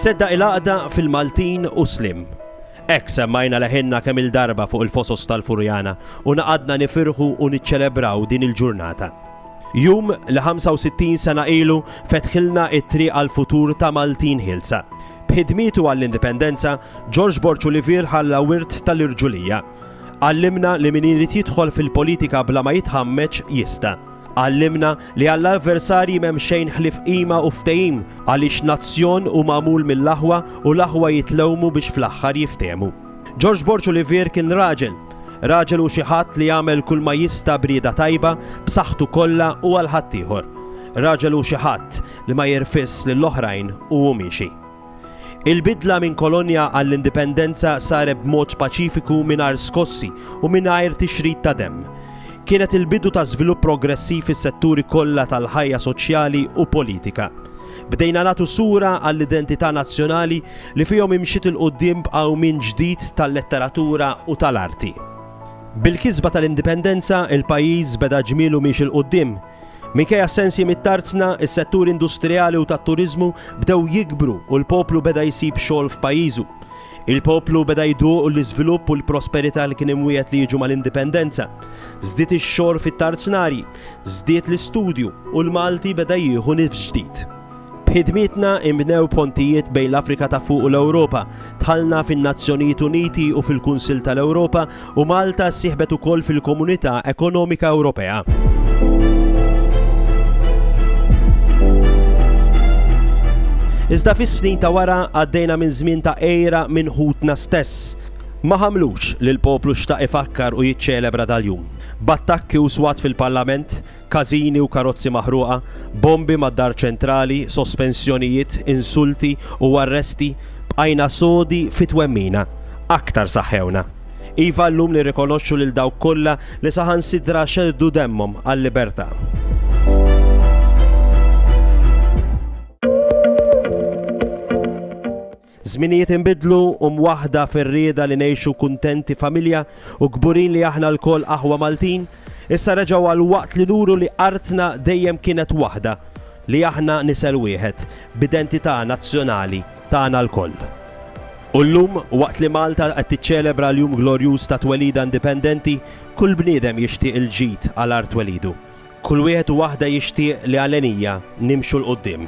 Sedda il-għaqda fil-Maltin u Slim. Ek semmajna leħenna kemm il-darba fuq il-fosos tal-Furjana u naqadna nifirħu u niċċelebraw din il-ġurnata. Jum li 65 sena ilu fetħilna t-triq għall-futur ta' Maltin ħielsa. B'ħidmietu għall-Indipendenza, George Borg Olivier ħalla wirt tal-irġulija. Għallimna li min irid jidħol fil-politika bla ma jitħammeġ jista'. Għallimna li għall-avversarji m'hemm xejn ħlief qima u ftehim għaliex nazzjon hu magħmul mill-aħwa u l-aħwa jitlewmu biex fl-aħħar jiftehmu. George Borg Olivier kien raġel. Raġel hu xi ħadd li jagħmel kulma jista' b'rieda tajba, b'saħħtu kollha u għal ħaddieħor. Raġel hu xi ħadd li ma jirfisx lill-oħrajn u hu miexi. Il-bidla minn kolonja għall-indipendenza saret b'mod paċifiku mingħajr skossi u mingħajr tixrid ta' demm. Kienet il-bidu ta' żvilupp progressiv fis-setturi kollha tal-ħajja soċjali u politika. Bdejna nagħtu sura għall-identità nazzjonali li fihom imxiet 'il quddiem b'qawmien ġdid tal-letteratura u tal-arti. Bil-kisba tal-Indipendenza, il-pajjiż beda ġmielu miexi 'l quddiem. Minkejja s-sensi mit-tarzna, is-setturi industrijali u tat-turiżmu bdew jikbru u l-poplu beda jsib xogħol f'pajjiżu. Il-poplu beda jduq l-iżvilupp u l-prosperità li kien imwiegħed li jiġu mal-Indipendenza. Żdied ix-xorb fit-tarznarji. Żdied l-istudju u l-Malti beda jieħu nifs ġdid. B'ħidmietna inbnew pontijiet bejn l-Afrika ta' Fuq u l-Ewropa, dħalna fin-Nazzjonijiet Uniti u fil-Kunsill tal-Ewropa u Malta ssieħbet ukoll fil-Komunità Ekonomika Ewropea. Iżda fis-snin ta' wara għaddejna minn żmien ta' għira minn ħutna stess. Ma ħamlux li l-poplu xtaq ifakkar u jiċċelebra dal-jum. b'attakki u swat fil-Parlament, każini u karozzi maħruqa, bombi mad-Dar Ċentrali, sospensjonijiet, insulti u arresti, bqajna sodi fit-twemmina, aktar saħħewna. Iva llum nirrikonoxxu lil dawk kollha li saħansitra xerrdu demmhom għal-libertà. Żminijiet inbidlu u mwaħħda fir-rieda li ngħixu kuntenti familja u kburin li aħna lkoll aħwa Maltin, issa reġgħu għall-waqt li nuru li artna dejjem kienet waħda, li aħna nisel wieħed, b'identità nazzjonali tagħna lkoll. U llum, waqt li Malta qed tiċċelebra l-jum glorjuż ta' twelidha indipendenti, kull bniedem jixtieq il-ġid għal art twelidu. Kull wieħed u waħda jixtieq li għal għenija nimxu 'l quddiem.